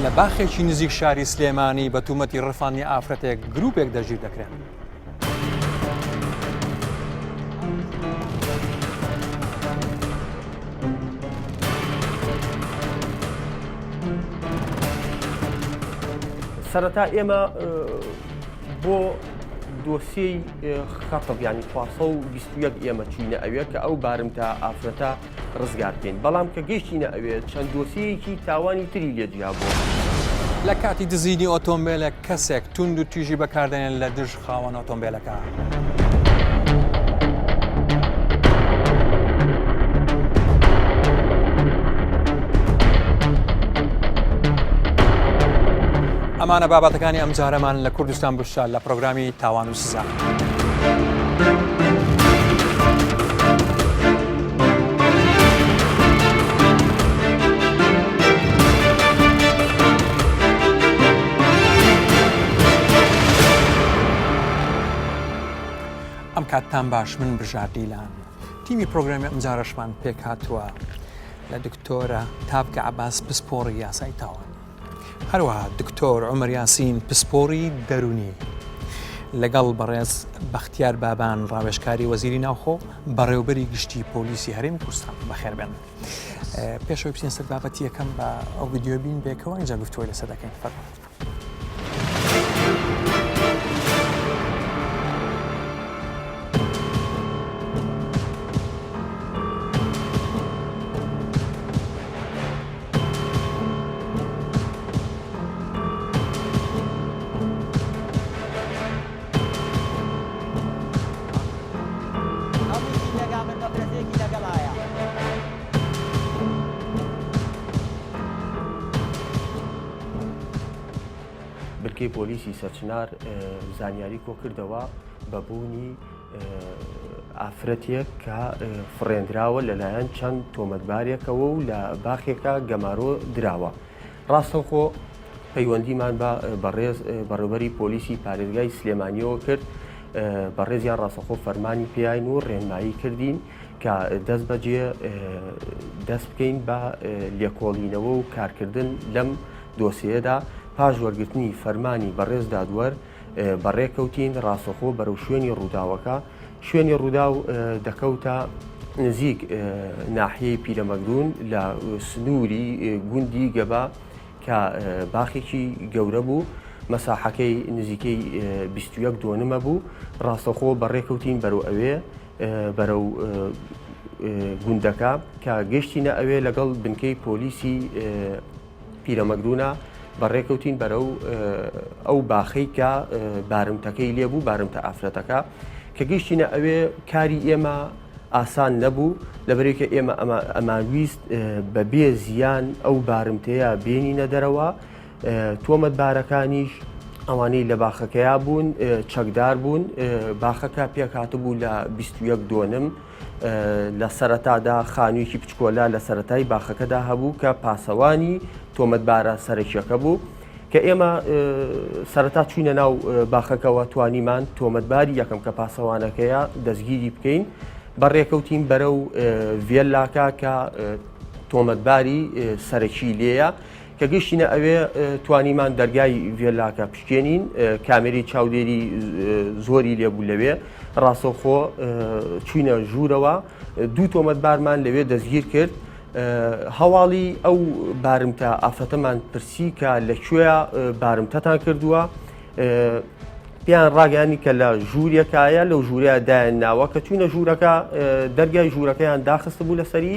لە باخێکی نزیک شاری سلێمانی بە تومەتی ڕفانی ئافرەتێک گرروپێک دەژیر دەکرێن. سەرەتا ئێمە بۆ دۆسیەی خەتب ینی خواسە و بیستویەک ئێمە چینە ئەوێ کە ئەو بارمتە ئافرەتە ڕزگار بکەین بەڵام کە گەیشتینە ئەوێ چەند دۆسیەکی تاوانی تری لێ جیا بوو. لە کاتی دزینی ئۆتۆمبێلێک کەسێک توند و تیژی بەکاردێنێن لە دژ خاوەن ئۆتۆمبێلەکە. ئەمانە بابەتەکانی ئەمجارەمان لە کوردستان بوشە لە پرۆگرامی تاوان و سزا. ئەم کاتتان باش من برژا دیلان تیمی پرۆگرامی ئەمجارەشمان پێکهاتووە لە دکتۆرە تاڤگە عەباس پسپۆڕی یاسای تاوان. هەروەها دکتۆر عومەر یاسین پسپۆڕی دەروونی لەگەڵ بەڕێز بەختیار بابان ڕاوێژکاری وەزیری ناوخۆ بەڕێوبەری گشتی پۆلیسی هەرێمی کوردستان بەخێربێن پێشەوەی بچین سەر بابەتی یەکەم بە ئەو ویددیو بین بێکەوە ئەنجا گفتووە لەسەر دەکەین فەرمان. بنکەی پۆلیسی سەرچنار زانیاری کۆکردەوە بە بوونی ئافرەتێک کە فڕێندراوە لەلایەن چەند تۆمەتبارێکەوە و لە باخێکە گەمارۆ دراوە ڕاستەوخۆ پەیوەندیمان بە بەڕێز بەڕێبەری پۆلیسی پارێزگای سلێمانیەوە کرد بەڕێزیان ڕاستەخۆ فەرمانی پیاین و ڕێنمایی کردین کە دەست بەجێ دەست بکەین بە لێکۆڵینەوە و کارکردن لەم دۆسەیەدا پاش وەرگرتنی فەرمانی بەڕێز دادوەر بەڕێکەوتین ڕاستەخۆ بەرەو شوێنی ڕووداوەکە شوێنی ڕووداو دەکەوتە نزیک ناحیەی پیرەمەگرون لە سنووری گوندی گەبا کە باخێکی گەورە بوو مەساحەکەی نزیکەی 21 دۆنمە بوو ڕاستەخۆ بەڕێکەوتین بەرەو ئەوێ بەرە و گوندەکە کە گەشتینە ئەوێ لەگەڵ بنکەی پۆلیسی پیرەمەگروونە بەڕێکەوتین بەرەو ئەو باخەی کە بارمتەکەی لێبوو بارمتە ئافرەتەکە کە گەشتینە ئەوێ کاری ئێمە ئاسان نەبوو لەبەرێکە ئێمە ئەمانویست بە بێ زیان ئەو بارمتەیە بێنینە دەرەوە تۆمەت بارەکانیش ئەوانەی لە باخەکەیا بوون چەکدار بوون باخەکە پێکات بوو لە 21 دۆنم لە سەرەتادا خانوویەکی بچکۆلە لە سەرەتای باخەکەدا هەبوو کە پاسەوانی تۆمەتبارە سەرەکییەکە بوو، کە ئێمە سەرەتا چووینە ناو باخەکەوە توانیمان تۆمەتباری یەکەم کە پاسەوانەکەیە دەستگیری بکەین، بەڕێکەوتین بەرەو ڤێللاکە کە تۆمەتباری سەرەکی لێیە، کە گەیشتینە ئەوێ توانیمان دەرگای ڤێلاکە پشکێنین کامێری چاودێری زۆری لێبوو لەوێ ڕاستەوخۆ چوینە ژوورەوە دوو تۆمەتبارمان لەوێ دەستگیر کرد هەواڵی ئەو بارمتە ئافرەتەمان پرسی کە لە کوێە بارمتەتان کردووە پێیان ڕاگەانی کە لە ژوورەکایە لەو ژوورەیە دایان ناوە کە چوینە ژوورەکە دەرگای ژوورەکەیان داخست بوو لەسەری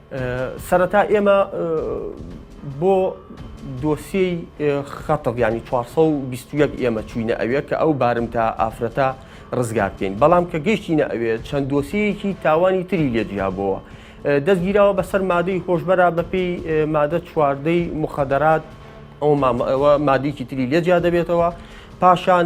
سەرەتا ئێمە بۆ دۆسیەی خەتەف ینی 421 ئێمە چوینە ئەوێ کە ئەو بارمتە ئافرەتە ڕزگار بکەین بەڵام کە گەشتینە ئەوێ چەند دۆسیەکی تاوانی تری لێجیابەوە دەستگیراوە بەسەر مادەی هۆشبەرا بەپی مادە چواردەی مخەدەرات ئەو مادیکی تری لێجیا دەبێتەوە پاشان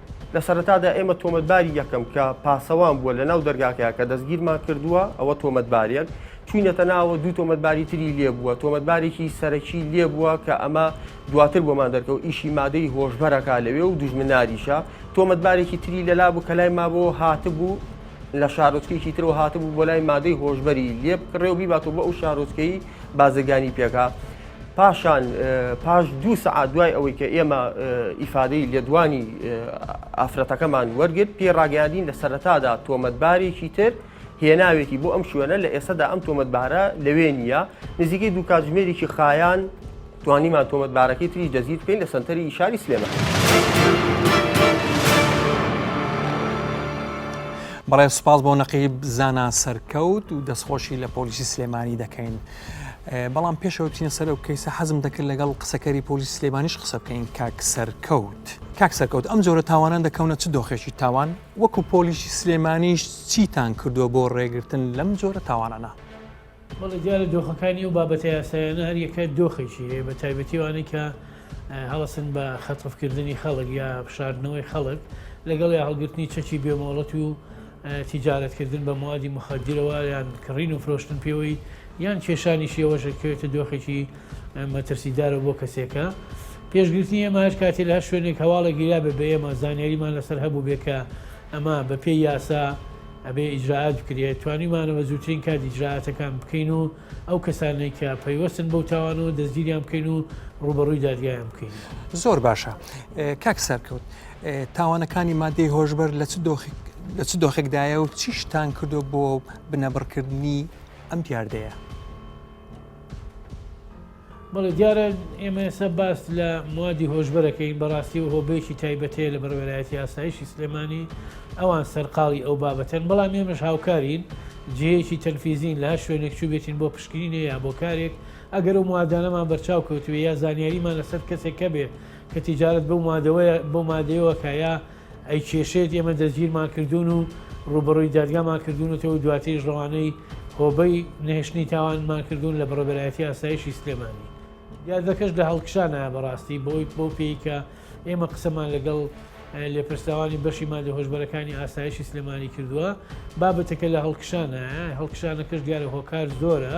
لە سەرەتادا ئێمە تۆمەتباری یەکەم کە پاسەوان بووە لە ناو دەرگاکەیە کە دەستگیرمان کردووە ئەوە تۆمەتبارێک چوینەتە ناوە دوو تۆمەتباری تری لێ بووە تۆمەتبارێکی سەرەکی لێ بووە کە ئەمە دواتر بۆمان دەرکەوت ئیشی مادەی هۆشبەرەکە لەوێ و دوژمناریشە تۆمەتبارێکی تری لەلا بوو کە لای مابەوە هاتبوو لە شارۆچکێکی ترەوە هاتبوو بۆ لای مادەی هۆشببەری لێ بکڕێ و بیباتەوە بۆ ئەو شارۆچکەی بازرگانی پێکا پاشان پاش دوو سەعات دوای ئەوەی کە ئێمە ئیفادەی لێدوانی ئافرەتەکەمان وەرگرت پێ ڕاگەاندین لە سەرەتادا تۆمەتبارێکی تر هێناوێتی بۆ ئەم شوێنە لە ئێسەدا ئەم تۆمەتبارە لەوێ نییە نزیکەی دوو کاتژمێریی خایان توانیمان تۆمەتبارەکەی تریش دەزیر بکەین لە سنتەری ئیشاری سلێمە. بەڵێ سوپاس بۆ نەقیب زانا سەرکەوت و دەستخۆشی لە پۆلیسی سلێمانی دەکەین. بەڵام پێش ئەوەی بچینە سەر ئەو کەیسە حەزم دەکرد لەگەڵ قسەکەری پۆلیس سلێمانیش قسە بکەین کاک سەرکەوت کاک سەرکەوت ئەم جۆرە تاوانان دەکەونە چ دۆخێکی تاوان وەکو پۆلیسی سلێمانیش چیتان کردووە بۆ ڕێگرتن لەم جۆرە تاوانانە بەڵێ دیارە دۆخەکانی و بابەتە یاسایانە هەر یەکە دۆخێکی هەیە بە تایبەتی وانەی کە هەڵسن بە خەتفکردنی خەڵک یا بشاردنەوەی خەڵک لەگەڵ یا هەڵگرتنی چەکی بێمۆڵەت و تیجارەت کردن بە موادی موخەدیرەوە یان کڕین و فرۆشتن پێوەی یان کێشانیشی ئەوەشە کەوێتە دۆخێکی مەترسیدارە بۆ کەسێکە پێشگرتنی ئێمە هەر کاتی لە هەر شوێنێک هەواڵە گیرا بە بە ئێمە زانیاریمان لەسەر هەبوو بێ کە ئەمە بە پێی یاسا ئەبێ ئیجرراعات بکرێت توانیمانەوە زووترین کات ئیجرراعاتەکان بکەین و ئەو کەسانەی کە پەیوەستن بەو تاوانەوە دەستگیریان بکەین و ڕوبەڕووی دادگایان بکەین. زۆر باشە کاک سەرکەوت تاوانەکانی مادەی هۆشبەر لە چ دۆخێک لە چ دۆخێکدایە و چی شتان کردو بۆ بنەبڕکردنی ئەم دیاردەیە. بەڵێ دیارە ئێمە ئێستا باس لە موادی هۆشبەرەکەین بەڕاستی و هۆبەیەکی تایبەتەیە لە بەڕێوەرایەتی ئاسایشی سلێمانی ئەوان سەرقاڵی ئەو بابەتەن بەڵام ئێمەش هاوکارین جێیەکی تەنفیزین لە شوێنێک چوو بێتین بۆ پشکنینێ یا بۆ کارێک ئەگەر و موادانەمان بەرچاو کەوتوێ یا زانیاریمان لەسەر کەسێک کە بێت کە تیجارت بەو مادەوەیە بۆ مادەوەکە یا ئەی کێشێت ئێمە دەستگیرمان کردوون و ڕووبەڕووی دادگامان کردوونەتەوە و دواتریش ڕەوانەی هۆبەی نەهێشتنی تاوانمان کردوون لە بەڕێبەرایەتی ئاسایشی سلێمانی دیاردەکەش لە هەڵکشانە بەڕاستی بۆی بۆ پێی کە ئێمە قسەمان لەگەڵ لێپرسراوانی بەشی مادە هۆشبەرەکانی ئاسایشی سلێمانی کردووە بابەتەکە لە هەڵکشانە هەڵکشانەکەش دیارە هۆکار زۆرە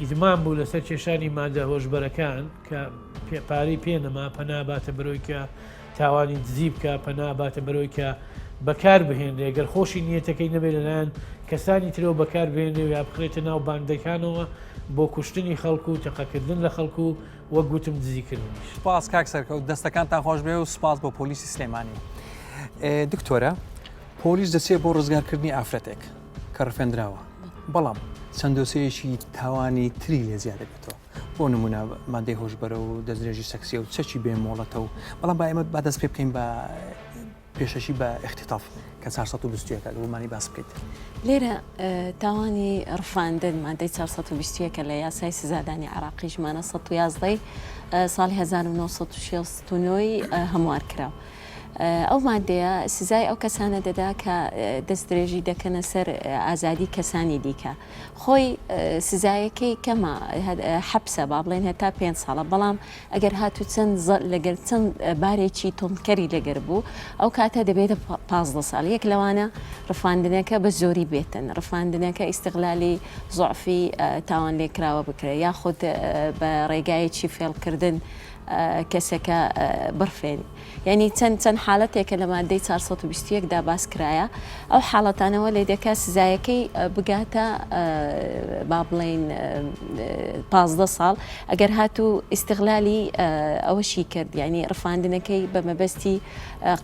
ئیدمان بوو لەسەر کێشانی مادە هۆشبەرەکان کە پارەی پێ نەما پەنا باتە بەرەوەی کە تاوانی دزی بکە پەنا باتە بەرەوەی کە بەکار بهێنێ گەر خۆشی نیەتەکەی نەبێت لەلایەن کەسانی ترەوە بەکار بێنێ و یا بخرێتە ناو باندەکانەوە بۆ کوشتنی خەڵکو و تەقەکردن لە خەڵکو وە گوتم دزیکردن سپاس کاک سەرکەوت دەستەکانتان خۆش بێ و سپاس بۆ پۆلیسی سلێمانی دکتۆرە پۆلیس دەچێت بۆ ڕزگارکردنی ئافرەتێک کە ڕفێندراوە بەڵام چەند دۆسەیەکی تاوانی تری لێ زیاد دەبێتەوە بۆ نمونە مادەی هۆشبەرە و دەستێژی سەکسیە و چەکی بێ مۆڵەتە و بەڵام بایمە با دەست پێ بکەین بە پێشەشی بە اختتاف کە 1920ەکە دومانی باس بکەیت لێرە تاوانی ڕفاندن مادەی 1920ەکە لە یاسای سزادانی عراقی ژمانە 1970 ساڵی 1969 هەموار کرا ئەو ماددەیە سزای ئەو کەسانە دەدا کە دەستدرێژی دەکەنە سەر ئازادی کەسانی دیکە خۆی سزایەکەی کەمە حەپسە با بڵێن هەتا پێ ساڵە بەڵام ئەگەر هاتو چەند لەگەر چەند بارێکی تۆندکەری لەگەر بوو ئەو کاتە دەبێتە پازدە ساڵ یەک لەوانە ڕفاندنەکە بە زۆری بێتن ڕفاندنەکە ئیسیغلالی زعفی تاوان لێکراوە بکرێت یاخود بە ڕێگایەکی فێڵکردن کەسەکە بڕفێنی یعنی چەند چەند حالەتێکە لە مادەی 421 دا باس کرایە ئەو حاڵەتانەوە لێ دەکە سزایەکەی بگاتە با بڵین پازدە ساڵ ئەگەر هات و ئیسیغلالی ئەوەشی کرد یعنی ڕفاندنەکەی بە مەبەستی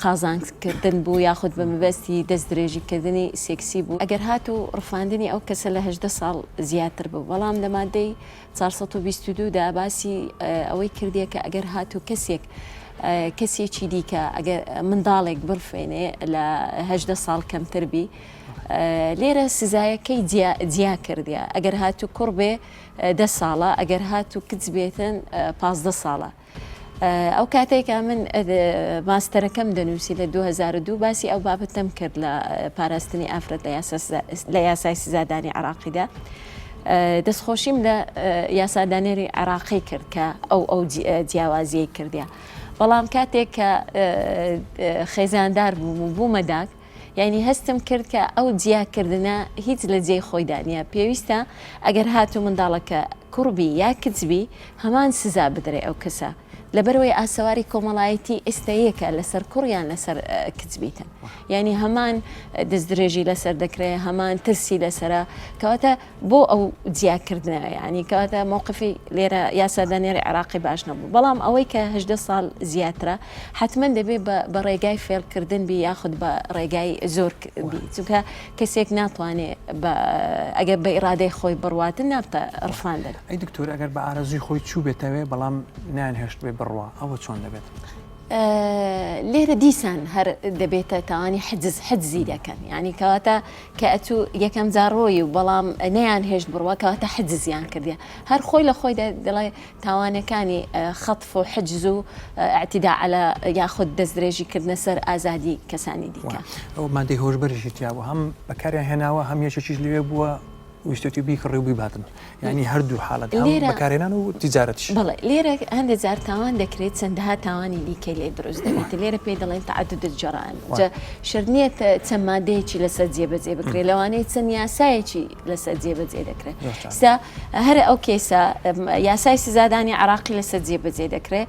قازانکردن بوو یاخود بە مەبەستی دەست درێژیکردنی سێکسی بوو ئەگەر هات و ڕفاندنی ئەو کەسە لە هەدە ساڵ زیاتر بوو بەڵام لە مادەی چوار سەد و بیست و دوو دا باسی ئەوەی کردیە کە ئەگەر هاتوو کەسێک کەسێکی دیکە ئەگەر منداڵێک بڕفێنێ لە هەدە ساڵ کەمتر بی لێرە سزایەکەی جیا کردیا ئەگەر هاتوو کوڕ بێ دە ساڵە ئەگەر هاتوو کچ بێتن پازدە ساڵە. ئەو کاتەی کە من ماستەرەکەم دەنووسی لە 2002 باسی ئەو بابەتەم کرد لە پاراستنی ئافرەت لە یاسای سزادانی عراقیدا. دەستخۆشیم لە یاسادانێری عێراقی کرد کە ئەو ئەو جیاوازیەی کردیا. بەڵام کاتێک کە خێزاندار بووم و بوومەداک یانی هەستم کرد کە ئەو جیاکردنە هیچ لە جێی خۆیدا نیە، پێویستە ئەگەر هاتوو منداڵەکە کوڕ بی یا کچ بی هەمان سزا بدرێ ئەو کەسە، لەبەرئەوەی ئاسەواری کۆمەڵایەتی ئێستا یەکە لەسەر کوڕ یان لەسەر کچ بیتن یانی هەمان دەستدرێژی لەسەر دەکرێ هەمان ترسی لەسەرە کەواتە بۆ ئەو جیاکردنە یانی کەواتە موقفی لێرە یاسادانێری عراقی باش نەبوو بەڵام ئەوەی کە هەدە ساڵ زیاترە حتمما دەبێ بە ڕێگای فێلکردن بی یاخود بە ڕێگای زۆر بی چونکە کەسێک ناتوانێ ئەگەر بە ئیرادەی خۆی بڕواتن نابتە ڕفاندن ئەی دکتۆر ئەگەر بە ئارەزوی خۆی چوو بێتەوێ بەڵام نان هێشت بێ بڕوا ئەوە چۆن دەبێت. لێرە دیسان هەر دەبێتە تاوانی حجز حەجزی دەکەن ینی کەواتە کە ئەتوو یەکەم جار ڕۆی و بەڵام نەیان هێشت بڕوا کەواتە حجزیان کردیە هەر خۆی لە خۆیدا دەڵێ تاوانەکانی خطف و حجز و اعتداء علی یاخود دەستدرێژی کردنە سەر ئازادی کەسانی دیکە. ئەو مادەی هۆشبەرێکی تیابوو هەم بەکاریان هێناوە هەم یەکێکیش لەوێ بووە ویستێتی بیکڕی و بیباتن یانی هەردوو حاڵەت هەم لێرە- بەکارهێنان و تیجارەتیش. بەڵێ، لێرە هەندێک جار تاوان دەکرێت چەندەها تاوانی دیکەی لێ دروست دەبێت، لێرە پێی دەڵێن تعدد الجرائم، وا. جا شەرت نییە تە- چەند مادەیەکی لەسەر جێبەجێ بکرێت، لەوانەیە چەند یاسایەکی لەسەر جێبەجێ دەکرێت. زۆر جار. ئێستا هەر ئەو کەیسە، ئەم، یاسای سزادانی عێراقی لەسەر جێبەجێ دەکرێت،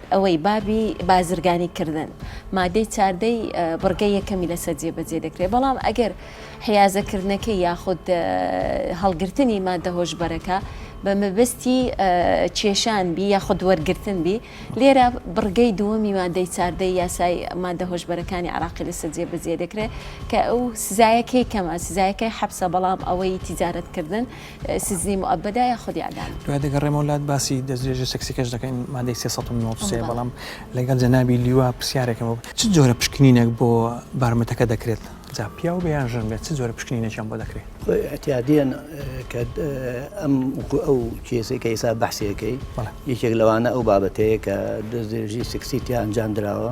ئەوەی بابی بازرگانی کردن مادەی چاردەی بڕگە یەکەمی لەسەر جێبەجێ دەکرێت بەڵام ئەگەر حیازەکردنەکە یاخود هەڵگرتنی مادە هۆشبەرەکە بە مەبستی کێشان بی یاخود وەرگتن بی لێرە بڕگەی دووەمی مادەی چاردەی یاسای مادە هۆشبەرەکانی عراقی لەسەر جێبەجێ دەکرێت کە ئەو سزایەکەی کەمە سزایەکەی حەبسە بەڵام ئەوەی تیجارەتکردن سجنی موئەبەدا یا خود اعدام. دوای دەگەڕێمەوە لات باسی دەستدرێژی سێکسیکەش دەکەین مادەی سێ سەد و نەوەد و سێ بەڵام لەگەڵ جەنابی لیوا پرسیارێکم هەبوو چ جۆرە پشکنینێک بۆ بارمتەکە دەکرێت جا پیاو بێ یان ژن بێت چ جۆرە پشکنینێکیان بۆ دەکرێت؟ خۆ ئیعتیادیەن کە ئەم وەکو ئەو کێسەی کە ئێستا بەحسیەکەی بەڵێ. یەکێک لەوانە ئەو بابەتەیە کە دەستدرێژی سێکسی تیا ئەنجام دراوە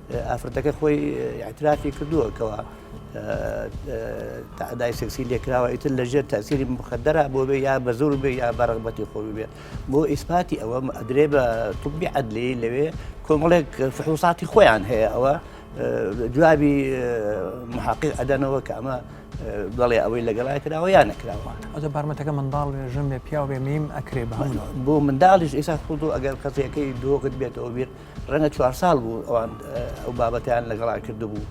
ئافرەتەکە خۆی ئیعترافی کردووە کەوا تەعدای سێکسی لێکراوە ئیتر لە ژێر تەسیری مخدرە بۆ بێ یا بە زۆر بێ یا بەڕغبەتی خۆ بێت بۆ ئیسپاتی ئەوە ئەدرێ بە توبی عدلی لەوێ کۆمەڵێک فحوساتی خۆیان هەیە ئەوە جوابی محقق ئەدەنەوە کە ئەمە بەڵێ ئەوەی لەگەڵای کراوە یان نەکراوە ئەو بارمەتەکە منداڵ ژن بێ پیاو بێ میم ئەکرێ بە بۆ منداڵیش ئێستا خود ئەگەر قەزیەکەی دۆگت بێتەوە بێت ڕەنگە چوار ساڵ بوو ئەوان ئەو بابەتیان لەگەڵا کردبوو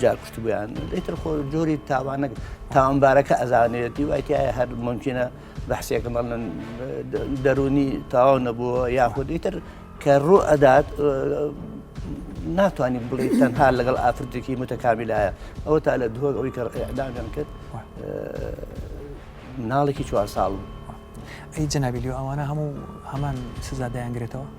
جا کوشتبیان ئیتر خۆ جۆری تاوانە تاوانبارەکە ئەزانێتی وایتیایە هەر ممکنە بەحسێکە مەڵن دەرونی تاوا نەبووە یاخود ئیتر کە ڕوو ئەدات ناتوانانی بڵێ تەنها لەگەڵ ئافرەتێکی متەکامیلایە ئەوە تا لە دهۆک ئەوی کە ئەدامیان کرد مناڵێکی چوار ساڵ بوو ئەی جەنابیلی ئەوانە هەموو هەمان سزا دەیانگرێتەوە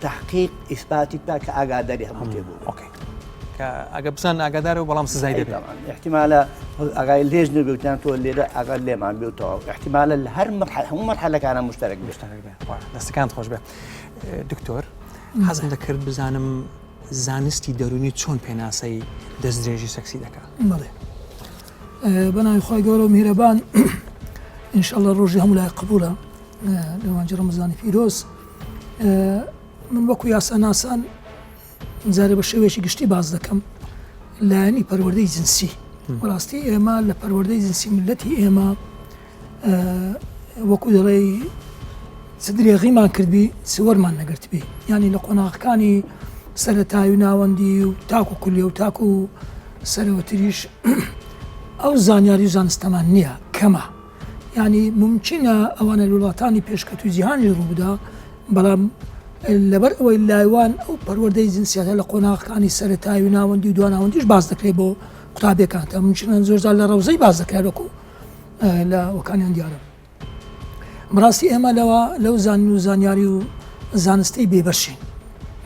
تحقیق ئیسپاتی بکا کە ئاگاداری هەموو شتێک بوو ئۆکەی کە ئەگە بزان ئاگادارە و بەڵام سزای دەبێت طبعا احتمالە ئاگای لێش نەبێتیان تۆ لێرە ئاگا لێمان بێ و تەواو احتمالە لە هەر مرحلە هەموو مرحلەکانە مشترک بێت مشترک بێ وە، دەستەکان خۆش بێ دکتۆر حەزم دەکرد بزانم زانستی دەرونی چۆن پێناسەی دەستدرێژی سەکسی دەکات بەڵێ ئە، بە ناوی خی گەورە و میرەبان ئینشاءڵە ڕۆژی هەموو لای قبولە لەوانجی ڕمزانی پیرۆز من وەکو یاساناسان جارێ بە شێوەیەکی گشتی باز دەکەم لایەنی پەروەردەی جنسی بەڕاستی ئێمە لە پەروەردەی جنسی ملەتی ئێمە وەکو دەڵێی چ درێغیمان کردبی سوەرمان نەگرتبی ینی لە قۆناغەکانی سەرەتاوی ناوەندی و تاکو کولی و تاکو سەرەوەتریش ئەو زانیاری و زانستەمان نییە کەمە یانی مومکینە ئەوانە لە وڵاتانی پێشکەتووی جیهانیش ڕووبدا، بەڵام لەبەر ئەوەی لایوان ئەو پەروەردەی جنسیەتە لە قۆناغەکانی سەرەتایی و ناوەندی و دواناوەندیش باس دەکرێت بۆ قوتابیەکان تا مومکینە زۆرجار لە ڕەوزەی باس دەکرێت وەکو لە وەکانیان دیارە بڕاستی ئێمە لەوە لەو زانین و زانیاری و زانستی بێبەشین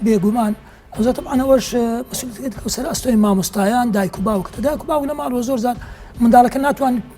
بێگومان ئەوزە تەمانەوەش مسلکەوسەر ئەستۆی مامۆستایان دایک و باوکتە دایک و باو لە ماڵەوە زۆر زار منداڵەکە ناتوان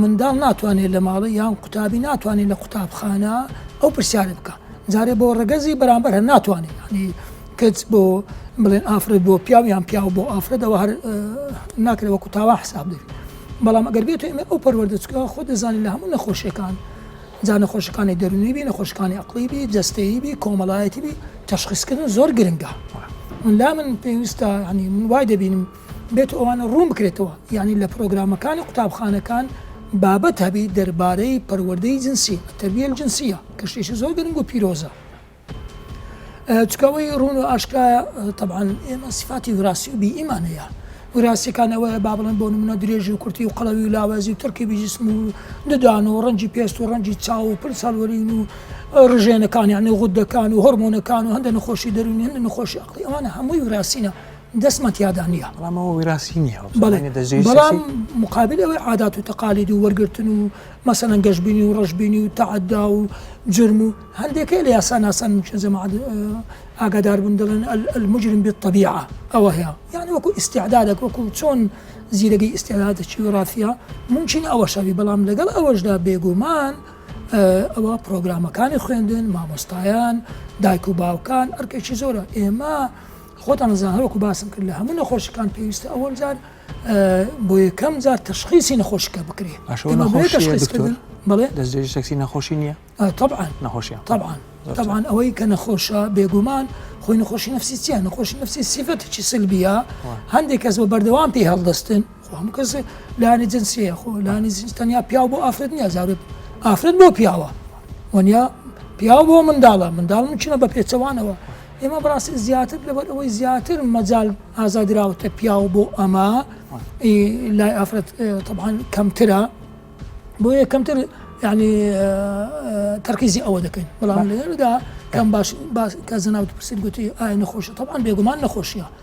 منداڵ ناتوانێت لە ماڵی یان قوتابی ناتوانێت لە قوتابخانە ئەو پرسیارە بکە جارێ بۆ ڕگەزی بەرامبەر هەر ناتوانێت ینی کچ بۆ بڵێن ئافرەت بۆ پیاو یان پیاو بۆ ئافرەتەوە هەر ناکرێت وەکو تاوا حساب دێت بەڵام ئەگەر بێت ئێمە ئەو پەروەردەچکە خۆ دەزانین لە هەموو نەخۆشیەکان جا نەخۆشەکانی دەرونی بی نەخۆشکانی عقلی بی جستەیی بی کۆمەڵایەتی بی تشخیصکردن زۆر گرنگە من لا من پێویستە ینی من وای دەبینم بێت و ئەوانە ڕوون بکرێتەوە، یانی لە پرۆگرامەکانی قوتابخانەکان بابەت هەبیت دەربارەی پەروەردەی جنسی، التربیە الجنسیە، کە شتێکی زۆر گرنگ و پیرۆزە. چونکە ئەوەی ڕوون و ئاشکرایە تەبعەن ئێمە سیفاتی وراسی و بیئیمان هەیە. وراستیەکان ئەوەیە با بڵێن بۆ نمونە درێژی و کورتی و قەڵەوی و لاوازی و ترکیبی جسم و ددان و ڕەنجی پێست و ڕەنجی چاو و پل ساڵوەرین و ڕژێنەکان یعنی غدەکان و هۆرمۆنەکان و هەندە نەخۆشی دەروونی هەندە نەخۆشی عەقڵی ئەوانە هەمووی وراستینە دەستمان تیادا نییە بەڵام ئەوە ویراستی نییە و بەڵێ زمانی دەجێی بەڵام سیاسی مقابل ئەوەی عادات و تەقالید و وەرگرتن و مەسەلەن گەشبینی و ڕەشبینی و تەعەدا و جرم و هەندێکەی لە یاساناسان ممکن جەماعەت اه، ئاگادار بن دەڵێن ال- المجرم بالطبیعە ئەوە هەیە یعنی وەکو ئیستعدادەک وەکو چۆن زیرەگەی ئیستعدادە چی و ڕافیە ممکن ئەوە شەوی بەڵام لەگەڵ ئەوەشدا بێگومان اه، ئەوە پرۆگرامەکانی خوێندن مامۆستایان دایک و باوکان ئەرکێکی زۆرە ئێمە خۆتان ئەزانن هەروەکو باسم کرد لە هەموو نەخۆشیەکان پێویستە ئەوەل جار بۆ یەکەم جار تەشخیسی نەخۆشیکە بکرێ دەستێکی نەخۆشی نییە طبعاان نەخۆشی طبعاان طبعاان ئەوەی کە نەخۆشە بێگومان خۆی نەخۆشی نفسی چیە نەخۆشی نفسی سیفەتێکی سلبیە هەندێک کەس بە بەردەوام پێی هەڵدەستن خۆ هەموو کەس لانی جنس هەیە خۆ لانی جنس تەنیا پیاو بۆ ئافرەت نیە زارێ ئافرەت بۆ پیاوە وەنیا پیاو بۆ منداڵە منداڵ مچنە بە پێچەوانەوە ئێمە بڕاستی زیاتر لەبەر ئەوەی زیاتر مەجال ئازادراوەتە پیاو بۆ ئەمە لای ئافرەت طبعاان کەمترە بۆ یە کەمتر یعنی تەرکیزی ئەوە دەکەین بەڵام لێرەدا کەم باش کە زەناوت پرسید گوتی ئایا نەخۆشی طبعاان بێگومان نەخۆشیە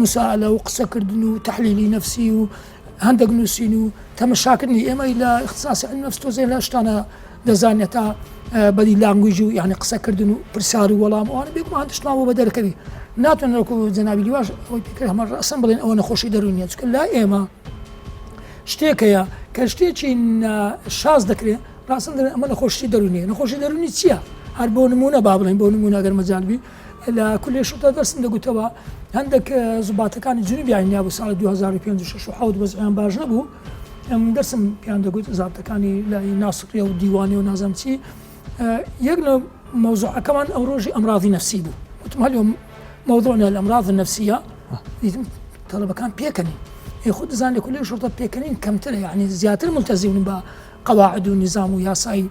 موسائەلە و قسە کردن و تەحلیلی نەفسی و هەندەک نووسین و تەمەشا کردنی ئێمەی لە اختصاصی علم نفس تۆزێ لە شتانە دەزانێت تا بەدی لانگویژ و یعنی قسە کردن و پرسیار و وەڵام ئەوان بێگومان دشتماوە بە دەرکەوی ناتوان لەکو جەنابی لیواش ئەوەی پێکرد هەمە ڕسم بڵێن ئەوە نەخۆشی دەرونیە چکە لا ئێمە شتێک هەیە کە شتێکی شاز دەکرێت ڕاستن دەێن ئەمە نەخۆشی دەرونیە نەخۆشی دەرونی چییە؟ هەر بۆ نمونە با بڵێن بۆ نمونە گەر مەجالبی لە کولێ شوڕتە دەرسم دەگوتەوە هەندێک زوباتەکانی جنوبیان نیابوو ساڵی 2005 و 6 و حوت وەزعیان باش نەبوو ئەم دەرسم پیان دەگوت زابتەکانی لای ناسڕیە و دیوانی و نازم چی یەک لە مەوزوعەکەمان ئەو ڕۆژی ئەمراضی نفسی بوو وتم هەل مەوضوعنا الأمراض النفسية دیتم تەڵەبەکان پێکەنین خود دەزان لە کولی شرطە پێکەنین کەمترە یعنی زیاتر ملتەزیون بە قواعد و نظام و یاسایی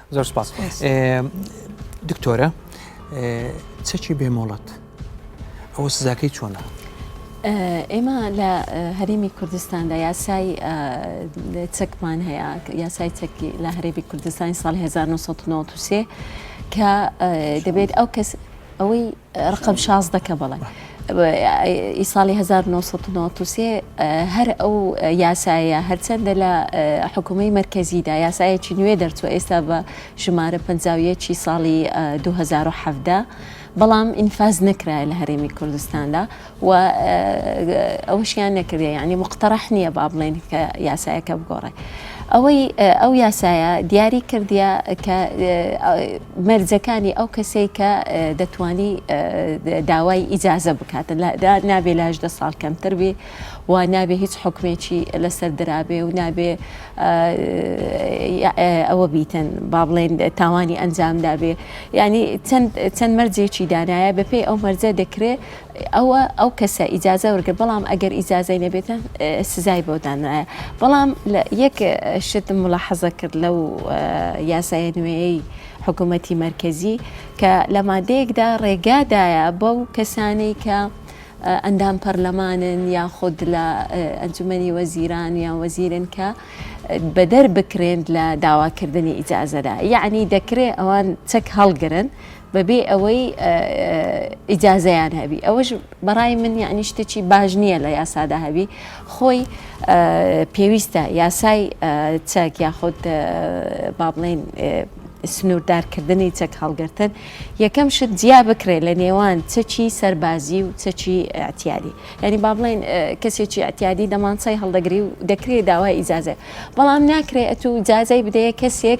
زۆر سپاس دکتۆرە چەکی بێ مۆڵەت ئەوە سزاکەی چۆنە ئێمە لە هەرێمی کوردستاندا یاسای چەکمان هەیە یاسای چەکی لە هەرێبی کوردستانی ساڵ 1993 کە دەبێت ئەو کەس ئەوەی ڕقم شازدە کە بڵێ ئی ساڵی 1993 هەر ئەو یاسایە هەرچەندە لە حکوومەی مرکزیدا یاسایەکی نوێ دەرچوە ئێستا بە ژمارە پەنجاویەکی ساڵی 2017 بەڵام ئینفاز نەکرایە لە هەرێمی کوردستاندا و ئەوەشیان نەکردە یانی مقتەرح نییە با بڵێن کە یاسایەکە بگۆڕێ ئەوەی ئەو یاسایە دیاری کردە کە مەرجەکانی ئەو کەسەی کە دەتانی داوای ئیجازە بکات نابێ لاش دە ساڵ کەمتر بێ و نابێ هیچ حکومێکی لەسەر درابێ و نابێ ئەوە بیتن با بڵێن تاوانی ئەنجامدابێ ینی چەند مەرجێکی دانایە بەپێی ئەو مەرجە دەکرێت ئەوە ئەو کەسە ئیجازە وەرگرت بەڵام ئەگەر ئیجازەی نەبێتە سزای بۆ دانرایە بەڵام یەک شتم ملاحەزە کرد لەو یاسایە نوێیەی حکوومەتی مرکزی کە لە مادەیەکدا ڕێگادایە بەو کەسانەی کە ئەندام پەرلەمانن یاخود لە ئەنجومنی وەزیران یان وەزیرن کە بەدەر بکرێن لە داواکردنی ئیجازەدا یعنی دەکرێت ئەوان چەک هەڵگرن بەبێ ئەوەی ئیجازەیان هەبی ئەوەش بەڕای من یعنی شتێکی باش نییە لە یاسادا هەبی خۆی پێویستە یاسای چەک یاخود با بڵێن سنووردارکردنی چەک هەڵگرتن یەکەم شت جیا بکرێت لە نێوان چەکی سەربازی و چەکی ئەتیادی یعنی با بڵێن کەسێکی ئەتیادی دەمانسای هەڵدەگری و دەکرێت داوای ئیجازە بەڵام ناکرێت ئەتو جازای بدەیە کەسێک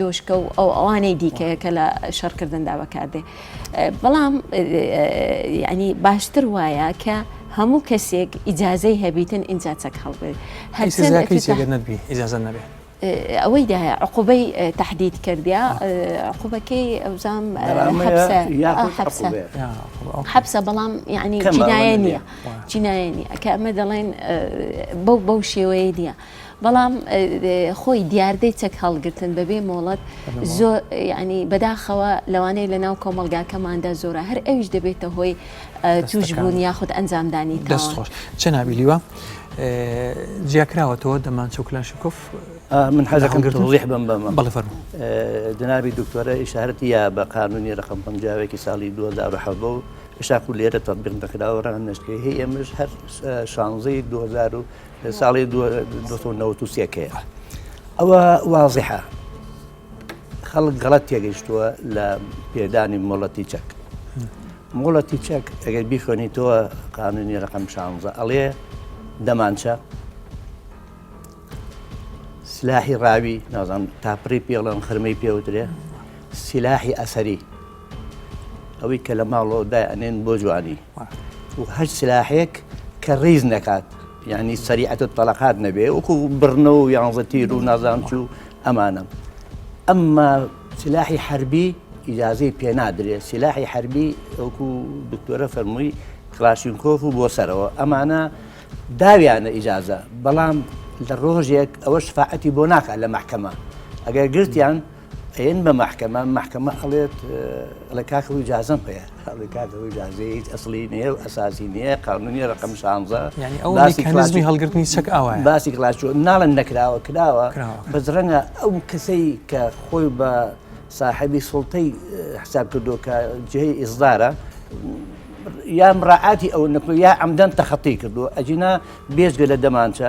دۆشکە و ئەو ئەوانەی دیکەیە کە لە شەڕکردندا بەکاردێ بەڵام ینی باشتر وایە کە هەموو کەسێک ئیجاازەی هەبیتن ئینجا چەک هەڵبێت هەرزانەبێت ئەوەی دا عقوبەی تهدید کردیا عقوبەکەی ئەوزام حەبسە بەڵام یعنی جینایە نییە جینایە نیە کە ئەمە دەڵێن بەو بەو شێوەیە نیە بەڵام خۆی دیاردەی چەک هەڵگرتن بەبێ مۆڵەت زۆر ینی بەداخەوە لەوانەیە لە ناو کۆمەلگاکەماندا زۆرە هەر ئەویش دەبێتە هۆی توش بوون یاخود ئەنجامدانی دەست خۆش چە نابیلیوە جیاکراوەتەوە دەمان چوکلاشکف من حەزەکەم گرتم ڕیح بم بەمە بەڵێ فەرمو جنابی دکتۆرە ئیشارەتی یا بە قانونی ڕقم پنجاوێکی ساڵی 2010 بۆ شاکو لێرە تەبیق دەکراوە ڕەنگە نشتکەی هەیە ئێمەش هەر شانزەی 2000 ساڵی دوو هەزار و نەوەد و سێ کەیە ئەوە وازیحە خەڵک گەڵت تێگەیشتووە لە پێدانی مۆڵەتی چەک مۆڵەتی چەک ئەگەر بیخۆنیتەوە قانونی ڕقم شانزە ئەڵێ دەمانچە سلاحی ڕاوی نازان تاپڕی پێڵەن خرمەی پێوترێ سلاحی ئەسەری ئەوەی کە لە ماڵەوە دای ئەنێن بۆ جوانی و هەر سلاحێک کە ڕیز نەکات یانی سەریعەت و تەلەقات نەبێ وەکو بڕنە و یانزە تیر و نازان چ و ئەمانە ئەمما سلاحی حربی ئیجاازەی پێنادرێت سلاحی حربی ئەوکو دکتۆرە فەرمووی کلاشینکۆف و بۆ سەرەوە ئەمانە داویانە ئیجاازە بەڵام لە ڕۆژێک ئەوە شفاعەتی بۆ ناکات لە محکەمە ئەگەر گرتیان ئەیەن بە مەحکەمە مەحکەمە ئەڵێت ئەڵێ کاکە و جازم هەیە ئەڵێ کاکە و جازێ هیچ ئەسلی نیە و ئەساسی نیە قانونی ڕقم شانزە ینی ئەو کەنازمی هەڵگرتنی چەک ئەوە باسی کلاسۆ ناڵن نەکراوە کراوە بەس ڕەنگە ئەو کەسەی کە خۆی بە ساحبی سڵتەی حساب کردو کە جێی ئیزدارە یا مراعاتی ئەو نەکو یا ئەمدەن تەخەتی کردو ئەجینا بێژگە لە دەمانچە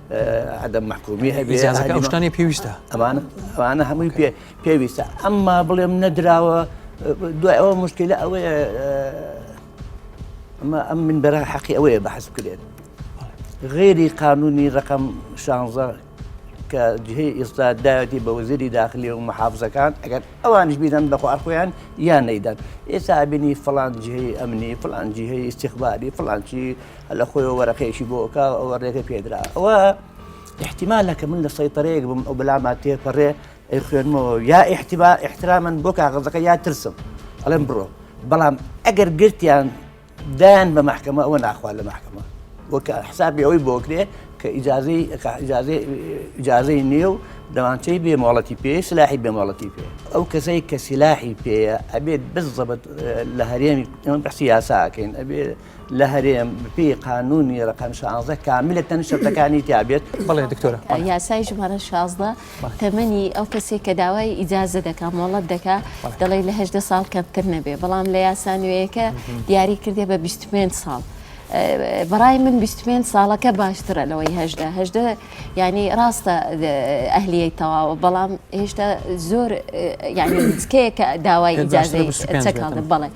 عەدەم مەحکومی هەبێ ئیجازەکە ئەو شتانەی پێویستە ئەمانە ئەمانە هەمووی پێ پێویستە ئەمما بڵێم نەدراوە دوای ئەوە مشکلە ئەوەیە ئەمە ئەم من بەرە حەقی ئەوەیە بەحس بکرێت غێری قانونی ڕقم شانزە کە جهەی ئێستا داوێتی بە وەزیری داخلی و محافزەکان ئەگەر ئەوانش بیدەن بەخواخۆیان یان نەیدەن ئێستا بینی فلان جهەی ئەمنی فلان جهەی استخباری فلانچی هەر لە خۆیەوە وەرەقەیەکی بۆ ئەکا و ئەوە ڕێگە پێ درا. ئەوە ئیحتیمالە کە من لە سەیتەرەیەک بم ئەو بەلاما تێپەرێ ئەیخوێنمەوە و یا ئیحتیما ئیحتراما بۆ کاغەزەکە یا ترسم ئەڵێم بڕۆ. بەڵام ئەگەر گرتیان دایان بە مەحکەمە ئەوە ناخوا لە مەحکەمە و کە حسابی ئەوەی بۆ کرێ کە ئیجازەی کە ئیجازەی ئیجازەی نییە و دەمانچەی بێ مۆڵەتی پێ سلاحی بێ مۆڵەتی پێ. ئەو کەسەی کە سلاحی پێیە ئەبێت بزەبت لە هەرێمی ئێمە بەحسی یاسا ئەکەین ئەبێ لە هەرێم بپی قانونی ڕقم شانزە کاملە تەن شتەکانی تابێت بڵێ دکتۆرە یاسای ژمارە شازدە تەمەنی ئەو کەسێک کە داوای ئیجازە دەکا مۆڵەت دەکا دەڵێ لە هەدە ساڵ کەمتر نەبێ بەڵام لە یاسانوەیەەکە دیاری کردێ بە 25 ساڵ. بەڕای من 25 ساڵەکە باشترە لەوەی هەدە هەدە ینی ڕاستە ئەهلیەی تەواوە بەڵام هێشتا زۆر ینی کەیەکە داوای ئیجاازەی چەکڵ بڵێ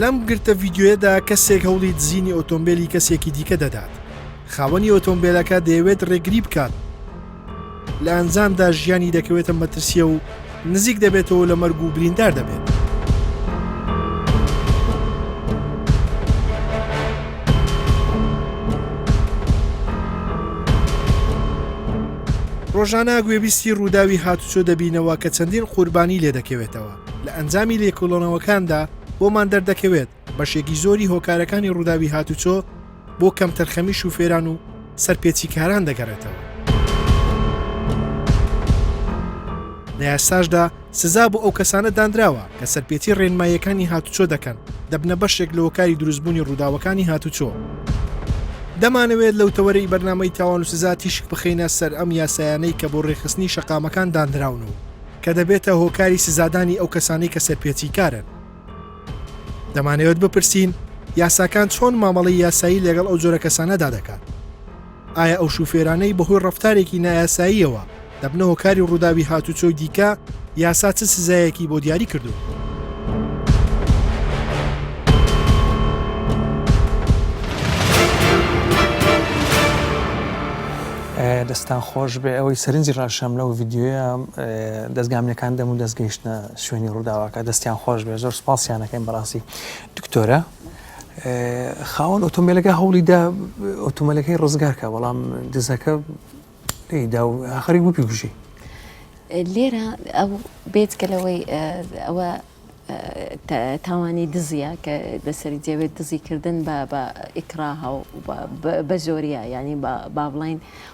لەم گرتە ڤیدیۆیەدا کەسێک هەوڵی دزینی ئۆتۆمبیلی کەسێکی دیکە دەدات خاوەنی ئۆتۆمبیلەکە دەیەوێت ڕێگری بکات لە ئەنجامدا ژیانی دەکەوێتە مەترسیە و نزیک دەبێتەوەو لە مەرگ و بریندار دەبێت. ڕۆژانە گوێبیستی ڕووداوی هاتوچۆ دەبینەوە کە چەندین قوربانی لێدەکەوێتەوە لە ئەنجامی لێکۆڵەنەوەکاندا بۆمان دەردەکەوێت بەشێکی زۆری هۆکارەکانی ڕووداوی هاتوچۆ بۆ کەمتەرخەمی شوفێران و سەرپێچیکاران دەگەڕێتەوە. لە یاساشدا سزا بۆ ئەو کەسانە دانراوە کە سەرپێچی ڕێنماییەکانی هاتوچۆ دەکەن دەبنە بەشێک لە هۆکاری دروستبوونی ڕووداوەکانی هاتوچۆ. دەمانەوێت لەو تەوەرەی بەرنامەی تاوان و سزا تیشک بخەینە سەر ئەم یاسایانەی کە بۆ ڕێکخستنی شەقامەکان دانراون و کە دەبێتە هۆکاری سزادانی ئەو کەسانەی کە سەرپێچیکارن. دەمانەوێت بپرسین یاساکان چۆن مامەڵی یاسایی لەگەڵ ئەو جۆرە کەسانەدا دەکات ئایا ئەو شوفێرانەی بەهۆی ڕفتارێکی نایاساییەوە دەبنە هۆکاری ڕووداوی هاتوچۆی دیکە یاسا چ سزایەکی بۆ دیاری کردو دەستان خۆش بێ ئەوەی سەرنجی ڕاشەم لەو یددیوە دەستگامنەکان دەم و دەستگەیشتە شوێنی ڕووداوەکە دەستیان خۆش بێت زۆر سوپاسیان ئەکەین بەڕاستی دکتۆرە خاوەن ئۆتۆمبیلەکە هەوڵی دا ئۆتۆمبیلەکەی ڕزگارکە بەڵام دزەکە لێدا و ئاخری وپی کوژی لێرە ئەو بێتکە لەوەی ئەوە تاوانی دزیە کە لەسەری جێوێت دزیکردن بە بە ئیکراها و بە زۆریا ینی با بڵین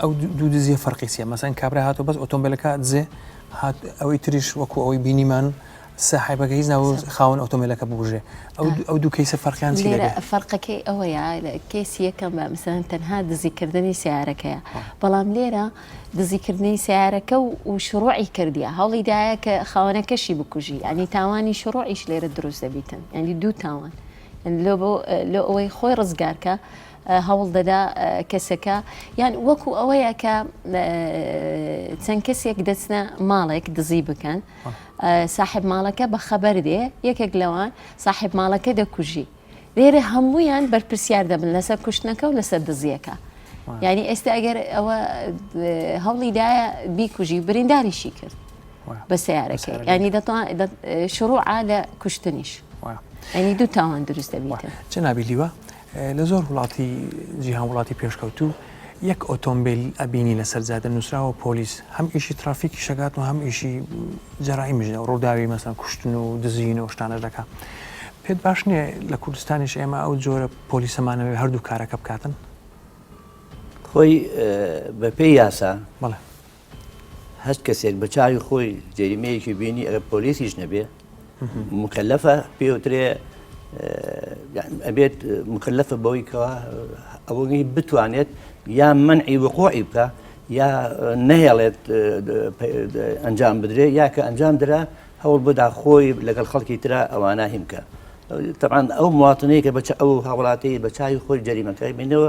ئەو دوو دزیە فەرقی چیە مەسەن کابرا هاتو بەس ئۆتۆمبیلەکە دزێ هات ئەوەی تریش وەکو ئەوەی بینیمان ساحبەکە هیچ ناو خاون ئۆتۆمبیلەکە ببژێ ئەو دوو کەیسە فەرقیان فەرقەکەی ئەوەیە کەیسی یەکەم بە مثلەن تەنها دزیکردنی سیارەکەیە بەڵام لێرە دزیکردنی سیارەکە و و شڕۆعی کردیە هەوڵی دایە کە خاوەنەکەشی بکوژی ئەنی تاوانی شڕۆعیش لێرە دروست دەبیتن ئەنی دوو تاوان لۆ بۆ لۆ ئەوەی خۆی ڕزگارکە هەوڵ دەدا کەسەکە یان وەکو ئەوەیە کە چەند کەسێک دەچنە ماڵێک دزی بکەن ساحب ماڵەکە بە خەبەر دێ یەکێک لەوان ساحب ماڵەکە دەکوژی لێرە هەمویان بەرپرسیار دەبن لەسەر کوشتنەکە و لەسەر دزیەکە یعنی ئێستا ئەگەر ئەوە هەوڵی دایە بیکوژی برینداریشی کرد بە سیارەکە ینی شروع لە کوشتنیش ینی دوو تاوان دروست دەبیتە چ نابی لیوە لە زۆر وڵاتی جیهان وڵاتی پێشکەوتوو یەک ئۆتۆمبیل ئەبینی لەسەر جادە نووسراوە پۆلیس هەم ئیشی ترافیکی شەگات و هەم ئیشی جەرایی مژە ڕووداوی مەسەن کوشتن و دزین و شتانە دەکە پێت باش نییە لە کوردستانیش ئێمە ئەو جۆرە پۆلیسەمانەوەی هەردوو کارەکە بکاتن خۆی بەپێی یاسا هەچ کەسێک بە چاوی خۆی جەریمەیەکی بینی ئەگەر پۆلیسیش نەبێ مکەلەفە پێوترێ ئەبێت مکەلەفە بەوەی کەەوە ئەوەی بتوانێت یا منعی وقوعی بکە یا نەهێڵێت ئەنجام بدرێ یا کە ئەنجام درا هەوڵ بدا خۆی لەگەڵ خەڵکی تررا ئەوانە هیمکە تەعاان ئەو مواتنەیە کە بەچ ئەو هاوڵاتی بە چاوی خۆی جەریمەکەی بینەوە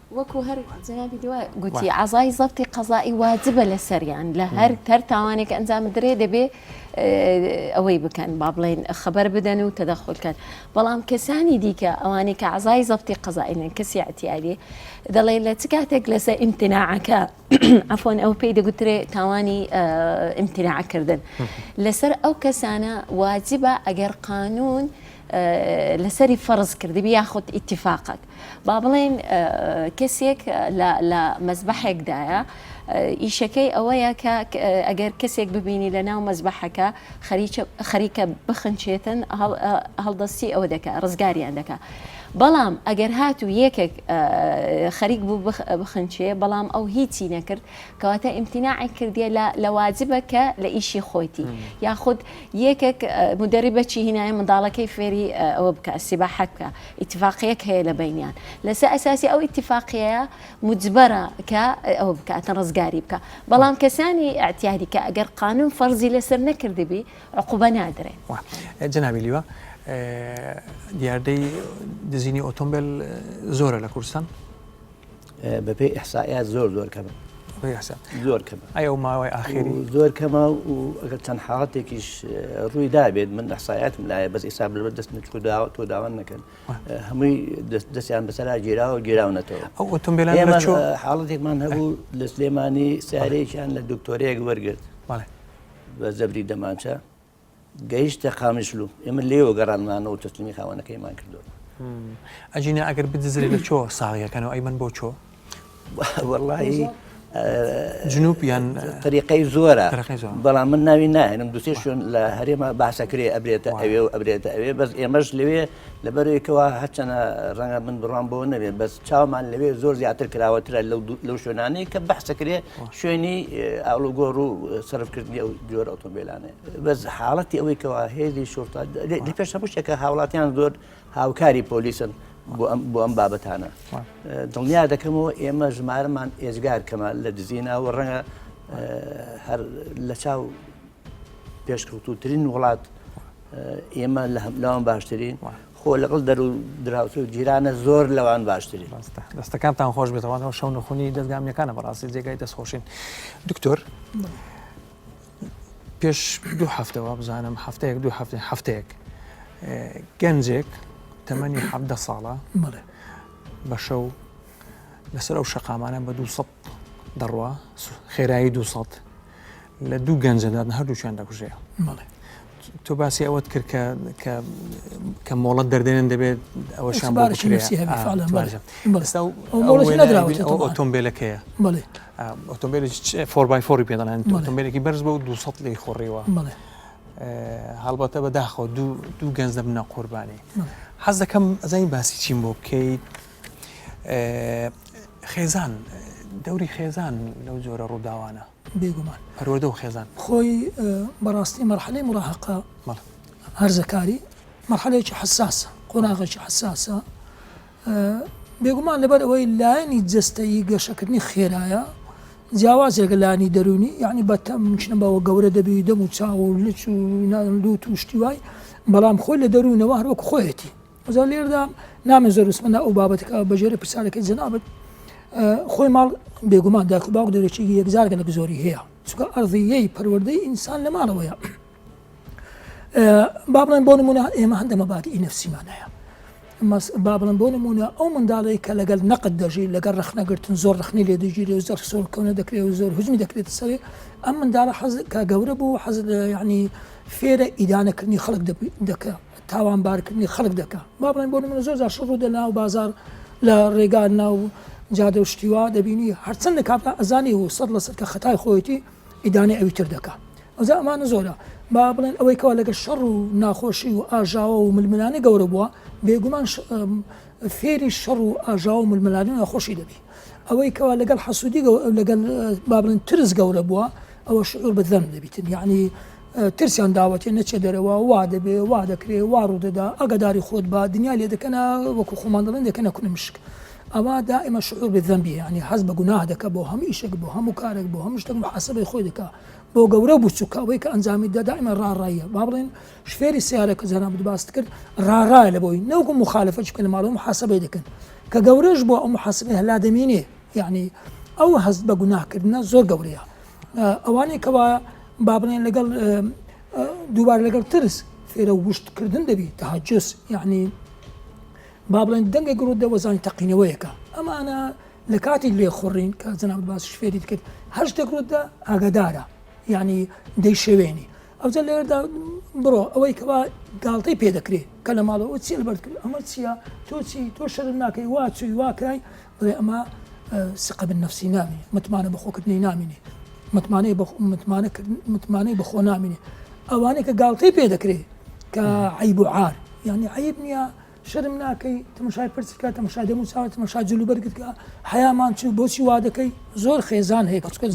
وەکو هەر جەنابی دوا گوتی عەزای زەبتی قەزائی واجبە لەسەریان لە هەر هەر تاوانێک ئەنجام بدرێ دەبێ ئەوەی بکەن با بڵێن خەبەر بدەن و تەدەخول کەن بەڵام کەسانی دیکە ئەوانەی کە عەزای زەبتی قەزائینن کەسی عتیادی دەڵێ لە چ کاتێک لەسەر ئیمتناعەکە عفۆن ئەو پێی دەگوترێ تاوانی ئیمتناعکردن لەسەر ئەو کەسانە واجبە ئەگەر قانون لەسەری فەرز کردبی یاخود ئیتفاقەک با بڵێن کەسێک لە مەزبەحێکدایە ئیشەکەی ئەوەیە کە ئەگەر کەسێک ببینی لە ناو مەزبەحەکە خەریکە بخنچێتن هەڵدەستی ئەوە دەکە ڕزگاریان دەکە بەڵام ئەگەر هات و یەکێک خەریک بوو بخنچێ بەڵام ئەو هیچی نەکرد کەواتە ئیمتیناعی کردیە لە واجبە کە لە ئیشی خۆیتی یاخود یەکێک مودەریبەکی هینایە منداڵەکەی فێری ئەوە بکا سیباحە بکا ئیتفاقیەک هەیە لە بەینیان لەسە ئەساسی ئەو ئیتفاقیەیە مجبەرە کە ئەوە بکاتن ڕزگاری بکە بەڵام کەسانی ئەعتیادی کە ئەگەر قانون فەرزی لەسەر نەکردبی عقوبە نادرێ. وا جەنابی لیوا دیاردەی دزینی ئۆتۆمبێل زۆرە لە کوردستان؟ بە پێی ئیحسائیات زۆر زۆر کەمن. بەپێی ئیحسا. زۆر کەمە. ئەی ئەو ماوەی ئاخیری؟ و زۆر کەمە و ئەگەر چەند حاڵەتێکیش اه، ڕووی دابێت من ئیحسائیاتم لایە بەس ئیستا بەر دەست من چوو داوا تۆ داوا نەکەن اه، هەمووی دەست دەستیان بەسەرا گیراوە و گیراونەتەوە. ئەو ئۆتۆمبیلانە ئێمە چۆ. اه، حاڵەتێکمان هەبوو لە سلێمانی سیارەیەکیان لە دکتۆرەیەک وەرگرت بەڵێ. بە زەبری دەمانچە. گەیشتە قامیشلو ئێمە لێوە گەڕانمانەوە تەسلیمی خاوەنەکەیمان کردووە ئەجینا ئەگەر بدزرێت لە چۆ ساغیەکەنەوە ئەی من بۆ چۆ وەڵی جنوب یان طریقەی زۆرە بەڵام من ناوی ناێنم دوسێ شوێن لە هەرێمە باسەکرێ ئەبرێتە ئەوێ و ئەبرێتە ئەوێ بەس ئێمەش لەوێ لەبەرئەوەیکەوا هەرچەنە ڕەنگە من بڕوام بۆ نەبێت بەس چاومان لەوێ زۆر زیاتر کراوەترە لەو شوێنانەیە کە بەحسەکرێ شوێنی ئالوگۆڕ و سرفکردنی ئەو جۆر ئۆتۆمبیلانێ بەس حاڵەتی ئەوەی کەوا هێزی شورتا پێش هەموو شتێکە هاوڵاتیان زۆر هاوکاری پۆلیسن بۆ ئەم بابەتانە دڵنیا دەکەمەوە ئێمە ژمارەمان ئێزگار کەمە لە دزیناوە ڕەنگە هەر لە چاو پێشکەوتوترین وڵات ئێمە لەوان باشترین خۆ لەگەڵ دەر و دراوسێ و جیرانە زۆر لەوان باشترین ڕاستە دەستەکانتان خۆش بێتەوانەوە شەو نخونی دەستگامیەکانە بەڕاستی جێگای دەستخۆشین دکتۆر پێش دوو هەفتەوە بزانم هەفتەیەک دوو هەفتێ هەفتەیەک گەنجێک تەمەنی حەبدە ساڵە بە شەو لەسەر ئەو شەقامانە بە دوو سەد دەڕوا خێرایی دوو سەد لە دوو گەنجە دادن هەردووکیان دەکوژێ تۆ باسی ئەوەت کرد کە کە مۆڵەت دەردێنن دەبێت ئەوە شان ئۆتۆمبیلەکەیە ئۆتۆمبیل فۆربای فۆری پێ دەڵێن ئۆتۆمبیلێکی بەرز بە و دو سە لی خۆڕیوە هەڵبەتە بە داخۆ دوو گەنج دەبنە قوربانی حەز دەکەم ئەزای باسی چیم بۆ بکەیت خێزان دەوری خێزان لەو جۆرە ڕووداوانە بێگومان. پەروەردە و خێزان. خۆی بەڕاستی مەرحەلەی موراهەقە هەرزەکاری مەرحەلەیەکی حەساسە، قۆناغێکی حەساسە، بێگومان لەبەر ئەوەی لایەنی جەستەیی گەشەکردنی خێرایە جیاوازێکە لانی دەرونی یعنی بەتەم مشنە بەوە گەورە دەبی دەم و چاو و لچ و لوت و شتی وای بەڵام خۆی لە دەروونەوە هەروەک خۆیەتی ئەجا لێردا نامێ زۆر بسمە ناو ئەو بابەتەکە بە ژێرە پرسیارەکەی جەنابت خۆی ماڵ بێگومان داکو باوک دەرەکی یەکجارگە لە زۆری هەیە چکە ئەڕزیەی پەروەردەی ئینسان لە ماڵەوەیە با بڵێن بۆ نمونە ئێمە هەندە مەباتی ئی نفسیمان هەیە با بڵم بۆ نمونە ئەو منداڵی کە لەگەل نەقد دەژی لەگەڵ ڕخنەگرتن زۆر ڕخنی لێ دەگیری و زەر سۆر کەونە دەکرێت و زۆر هزمی دەکرێت سەرێ ئەم منداڵە حەز کە گەورە بوو حەز ینی فێرە ئیدانەکردنی خەڵک دەکە تاوانبارکردنی خەڵک دەکا با بڵێن بۆ نمونە زۆر جار شەڕ ڕوودە ناو بازار لە ڕێگا ناو جادە و شتیوا دەبینی هەرچەند لە کاتا ئەزانی و سەد لەسەر کە خەتای خۆیەتی ئیدانەی ئەوی تر دەکا ئەوزا ئەمانە زۆرە با بڵێن ئەوەی کەوا لەگە شەڕ و ناخۆشی و ئاژاوە و ململانە گەورە بووە بێگومان فێری شەڕ و ئاژاوە و ململانی ناخۆشی دەبی ئەوەی کەوا لەگەڵ حەسوودی لەگەڵ بابلن ترس گەورە بووە ئەوە شعور بەدەم دەبیتن یعنی ترسیان داوەتێ نەچێ دەرەوە وا دەبێ وا دەکرێ وا ڕوودەدا ئاگاداری خۆت بە دنیا لێ دەکەنە وەکو خۆمان دەڵێن دەکەنە کونە مشک ئەوا دائما شعور بالذنب یعنی حەز بە گوناه دەکە بۆ هەموو ئیشێک بۆ هەموو کارێک بۆ هەموو شتێک محاسبەی خۆی دەکا بۆ گەورە و بچووکە ئەوەی کە ئەنجامی دا دائما ڕاڕاییە با بڵێن شفێری سیارە کە جەنابت باست کرد ڕاڕایە لە بۆی نەوەکو مخالفەت بکەن لە ماڵەوە محاسبەی دەکەن کە گەورەش بۆ ئەو محاسبەی هەلا دەمینێ یعنی ئەو هەست بە گوناهکردنە زۆر گەورەیە ئەوانەی کەوا با بڵێن لەگەڵ دووبار لەگەڵ ترس فێرە وشت کردن دەبی تاجس یعنی با بڵێن دەنگە گڕوت دەوەزانی تەقینەوەیەکە ئەمانە لە کاتی لێ خوڕین کە جەناب باس شفێری کرد هەر شتێک ڕوتدا ئاگادارە یعنی دەیشەوێنی ئەوجە لێردا بڕۆ ئەوەی کەوا گاڵتەی پێ دەکرێت کە لە ماڵەوە چی لەبەر کرد ئەمە چییە تۆچی تۆ شەر ناکەی واچوی واکەی بڵێ ئەمە سقە بالنفسی نامینێ، متمانە بەخۆکردنی نامینێ، متمانەی بەخۆ نامینێ، ئەوانەی کە گاڵتەی پێ دەکرێت کە عیب و عار یعنی عیب نییە شرم ناکەی تمشای پرسکە تمشا دەمو چاوە تمشا جلو بەرگتکە حیامان چوو بۆچی وا دەکەی زۆر خێزان هەیە کەچکە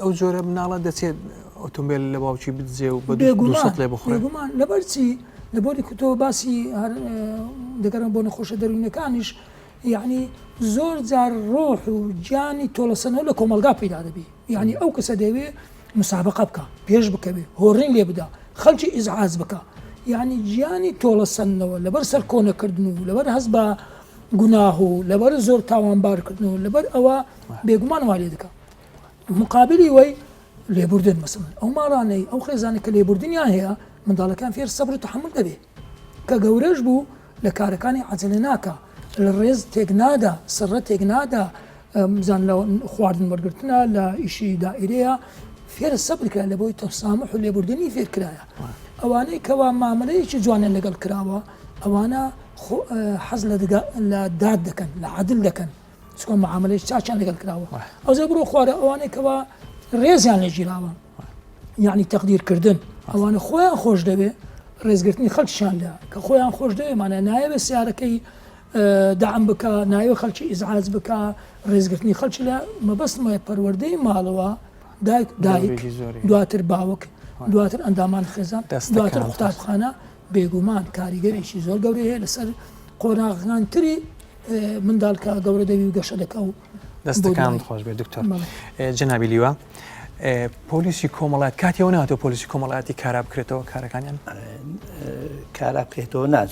ئەو جۆرە مناڵە دەچێت ئۆتۆمبیل لە باوکی بدزێ و بە لێ بخۆێگومان لەبەرچی لە بۆری کوتەوە باسی دەگەرم بۆ نەخۆشە دەروینەکانیش یەعنی زۆر جار ڕۆح و گیانی تۆڵەسەندنەوە لە کۆمەڵگا پەیدا دەبێ، یەعنی ئەو کەسە دەیەوێ مسابەقە بکا، پێش بکەوێ، هۆڕین لێ بدا، خەڵکی ئیزعاج بکا، یەعنی گیانی تۆڵەسەندنەوە لەبەر سەرکۆنەکردن و لەبەر هەست بە گوناه و لەبەر زۆر تاوانبارکردن و لەبەر ئەوە بێگومان وا لێ دەکا. مقابلی وەی لێبوردن، مەسەڵەن ئەو ماڵانەی، ئەو خێزانەی کە لێبوردنیان هەیە، منداڵەکان فێر سەبر و تەحەمول دەبێ. کە گەورەش بوو لە کارەکانی عەجەلە ناکا لە ڕێز تێک نادا سڕە تێک نادا بزان لە خواردن وەرگتنە لە ئیشی دائرەیە فێرە سەبر کرا لە بۆی تەسامح و لێبوردنی فێر کرایە ئەوانەی کەوا مامەلەیەکی جوانیان لەگەڵ کراوە ئەوانە حەز لە داد دەکەن لە عادل دەکەن چۆن معاملەی چاکیان لەگەڵ کراوە ئەوزە بڕۆ خوارە ئەوانەی کەوا ڕێزیان لە گیراوە یعنی تەقدیرکردن ئەوانە خۆیان خۆش دەوێ ڕێزگرتنی خەلکشان لە کە خۆیان خۆش دەوێمانە نایەوە سیارەکەی دام بک نایوە خەلکی ئیزعاز بک ڕێزگرتنی خەلک لە مەبەستمە پەروەردەی ماڵەوە دایک دایک دواتر باوک دواتر ئەندامان خێزان دواتر قوتابخانە بێگومان کاریگەرێکی زۆر گەورەیە لەسەر قۆناغانتری منداڵ کە گەورە دەبی و گەشە دەکە و دەستەکان خۆش بێ دکتۆر جنابی لیوە پۆلیسی کۆمەڵات کاتیەوە ناتۆ پۆلیسی کۆمەڵاتی کارا بکرێتەوە کارەکانیان کارا بکرێتەوە ناچ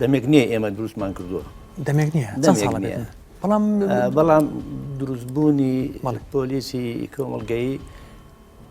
دەمێک نییە ئێمە دروستمان کردووە دەمێک نییە بەڵام بەڵام دروستبوونی پۆلیسی کۆمەلگەی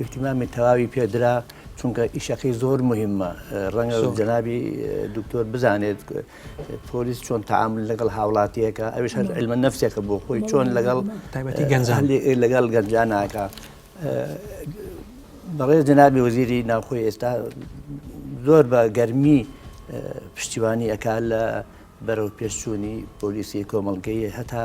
ئیهتیمامی تەواوی پێ درا چونکە ئیشەکەی زۆر موهیمە ڕەنگە جەنابی دکتۆر بزانێت پۆلیس چۆن تعامل لەگەڵ هاوڵاتیەکە ئەوش هەر علمە نفسێکە بۆ خۆی چۆن لەگەڵ تایبەتی گەنجان لەگەڵ گەنجاناکە بەڕێز جەنابی وەزیری ناوخۆی ئێستا زۆر بە گەرمی پشتیوانی ئەکا لە بەرەو پێشچوونی پۆلیسی کۆمەڵگەیە هەتا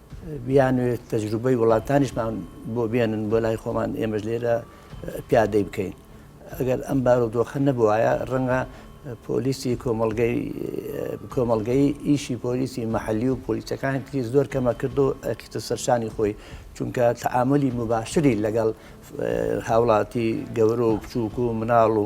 بیانوێت تەجروبەی وڵاتانیشمان بۆ بێنن بۆ لای خۆمان ئێمەش لێرە پیادەی بکەین ئەگەر ئەم بارودۆخە نەبووایە ڕەنگە پۆلیسی کۆمەلگەی کۆمەلگەی ئیشی پۆلیسی محلی و پۆلیسەکان تری زۆر کەمە کرد و ئەکیتە سەرشانی خۆی چونکە تعاملی مباشری لەگەڵ هاوڵاتی گەورە و بچووک و مناڵ و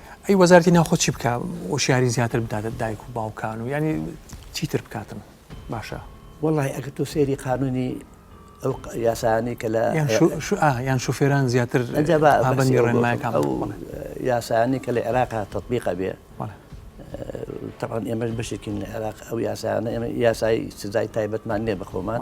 ئەی وەزارەتی ناوخۆ چی بکا وشیاری زیاتر بداتە دایک و باوکان و یانی چیتر بکاتن باشە. وەڵاهی ئەگەر تۆ سەیری قانونی ئەو یاسانەی کە لە یان شوفێران زیاتر یاسانی کە لە عێراق تطببیقە بێ تەوان ئێمەش بەشێکین لە عێراق ئەو یاسانە ئێمە یاسایی سزای تایبەتمان نیە بەخۆمان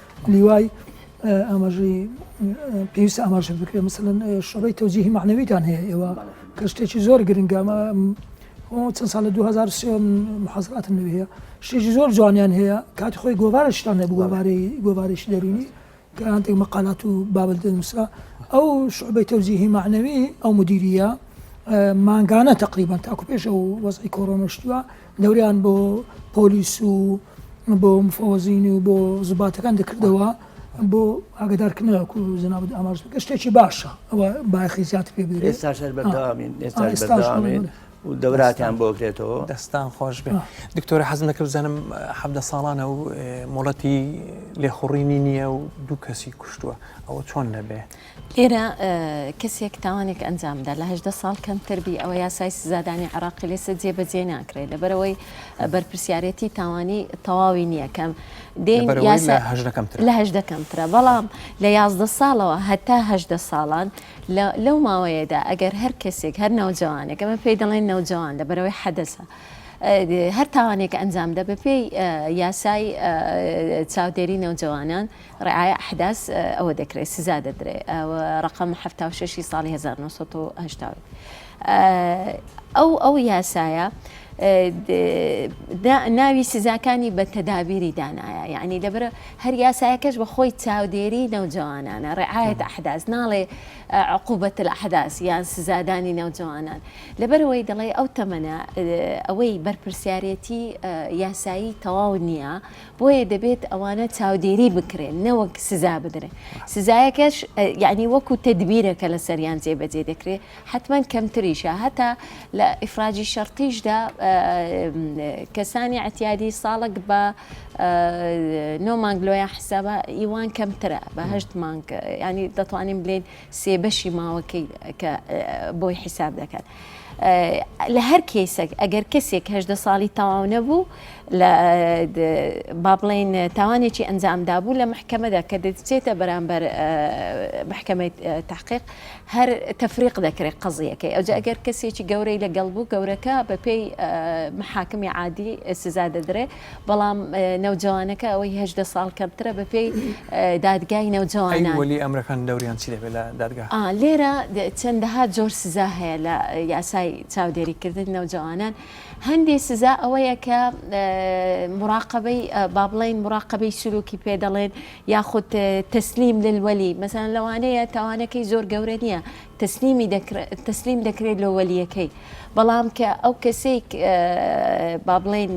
لیوای ئاماژەی پێویستە ئاماژە بکرێت مثلەن شوبەی تەوجیهی معنەویتان هەیە ئێوە کە شتێکی زۆر گرنگە ئەمە چەند سال لە 2023 محازراتم لێ هەیە شتێکی زۆر جوانیان هەیە کاتی خۆی گۆوارشتان هەبوو گۆوارەی گۆوارێکی دەرونی کە هەندێک مەقالات و بابل دەنووسرا ئەو شوبەی تەوجیهی معنەوی ئەو مدیریە مانگانە تقریبان تاکو پێش ئەو وەزی کۆرۆنشتووە دەوریان بۆ پۆلیس و بۆ مفەوەزین و بۆ زوباتەکان دەکردەوە بۆ ئاگدارکردنەوەکو زەنابت ئاماژ بکە شتێکی باشە ئەوە بایخی زیاتر پێ بێت ئێستا شەر بەردەوامین ئێستا بەردەوامین و دەوراتیان بۆکرێتەوە دەستان خۆش بێ دکتۆرە حەز نەکە بزانم حەبدە ساڵانە و مۆڵەتی لێخوڕینی نییە و دوو کەسی کوشتووە ئەوە چۆن نەبێ؟ ئێرە کەسێک تاوانێک ئەنجام بدات لە هەژدە ساڵ کەمتر بی ئەوە یاسای سزادانی عێراقی لێسە جێبەجێ ناکرێت لەبەرەوەی بەرپرسیارەتی تاوانی تەواوی نییە کەم دێن لەبەرەوەی یاسا لە هەژدە کەمترە. لە هەژدە کەمترە بەڵام لە یازدە ساڵەوە هەتا هەژدە ساڵان لە- لەو ماوەیەدا ئەگەر هەر کەسێک هەر نەوجەوانێک ئەمە پێی دەڵێن نەوجەوان لە بەرەوەی حەدەسە ئە، هەر تاوانێک ئەنجام دا بە پێی یاسای چاودێری نەوجەوانان رعایا احداث ئەوە دەکرێت سزا دەدرێت ئەوە رەقەم حەفتا و شەش ی ساڵی هەزار و نۆ سەد و هەشتا و یەک ئەو ئەو یاسایە ناوی سزاکانی بە تەدابیری دانایە یعنی لەبەر هەر یاسایەکەش بە خۆی چاودێری نەوجوانانە ڕعاەت ئەحداز ناڵێ عقوبەت الأحداث یان سزادانی نەوجوانان لەبەرەوەی دەڵێ ئەو تەمەە ئەوەی بەرپرسیارەتی یاسایی تەواو نییە بۆیە دەبێت ئەوانە چاودێری بکرێن نەوەک سزا بدرێن سزایەکەش یعنی وەکو تدبیرە کە لە سەریان جێبەجێ دەکرێت حتمما کەمتریشە هەتا لە ئیفراجی شەرتیشدا کەسانی ئەتیادی ساڵک بە نۆ مانگ لۆیان حسابە ئیوان کەمترە بەهشت مانگ ینی دەتوانین بلین سێ بەشی ماوەکەی کە بۆی حیساب دەکات لە هەر کەیسەک ئەگەر کەسێک هەدە ساڵی تەواو نەبوو لە با بڵین تاوانێکی ئەنجامدا بوو لە محکەمەدا کە دەچێتە بەرامبەر محکەمەی تحقیق هەر تەفریق دەکرێت قەزیەکەی ئەوجا ئەگەر کەسێکی گەورەی لەگەڵ بوو گەورەکە بەپێی محاکمی عادی سزا دەدرێت بەڵام نەوجەوانەکە ئەوەی هەژدە ساڵ کەمترە بە پێی دادگای نەوجەوانان وەلی ئەمرەکان دەوریان چی دەبێت لە دادگا؟ لێرە چەندەها جۆر سزا هەیە لە یاسای چاودێریکردن نەوجەوانان هەندی سزا ئەوەیە کە مراقبەی با بڵین مراقبەی سلوکی پێ دەڵێن یاخود تەسلیم للوەلی مەسان لەوانەیە تاوانەکەی زۆر گەورە نییە تەسلیم دەکرێت لۆ وەلیەکەی بەڵام کە ئەو کەسێک با بڵێن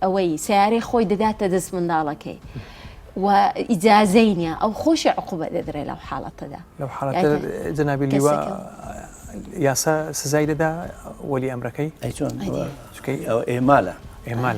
ئەوەی سیارەی خۆی دەداتە دەست منداڵەکەی و ئیجاازەی نیە ئەو خۆشی عقوبە دەدرێت لەو حاڵەتەدا لەو حاڵەتە جەنابی لیوە یاسا سزای دەدا وەلی ئەمرەکەی ئەیچۆن ئەو ئێمالە ئێمال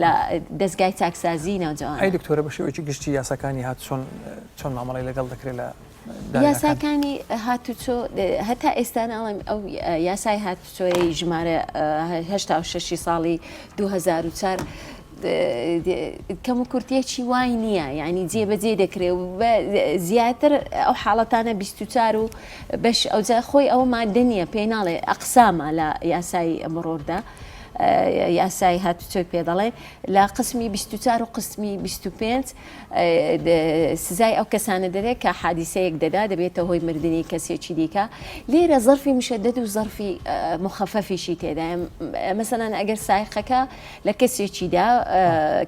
لە دەزگای چاکسازی ناوجەوان. ئەی دکتۆرە بە شێوەیەکی گشتی یاساکانی هاتوچۆن چۆن مامەڵەی لەگەڵ دەکرێت لە یاساکانی هاتوچۆ هەتا ئێستا ناڵێم ئەو یاسای هاتوچۆی ژمارە هشتا ششی ساڵی 2004 کەم و کورتێکی وای نییە ینی جێبەجێ دەکرێ و زیاتر ئەو حاڵەتانە 24 و بەش ئەوجا خۆی ئەوە مادە نییە پێی ناڵێ ئەقسامە لە یاسایی ئەمڕۆردا یاسای هاتوچۆی پێ دەڵێ لە قسمی 24 و قسمی 25 سزای ئەو کەسانە دەرێت کە حادیسەیەک دەدا دەبێتە هۆی مردنی کەسێکی دیکە لێرە زەرفی مشەدەد و زەرفی مخەفەفیشی تێدا مەسەنان ئەگەر سایقەکە لە کەسێکیدا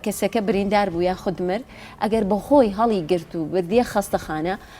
کەسەکە بریندار بوو یا خودمرد ئەگەر بەخۆی هەڵی گرت و بردیە خەستەخانە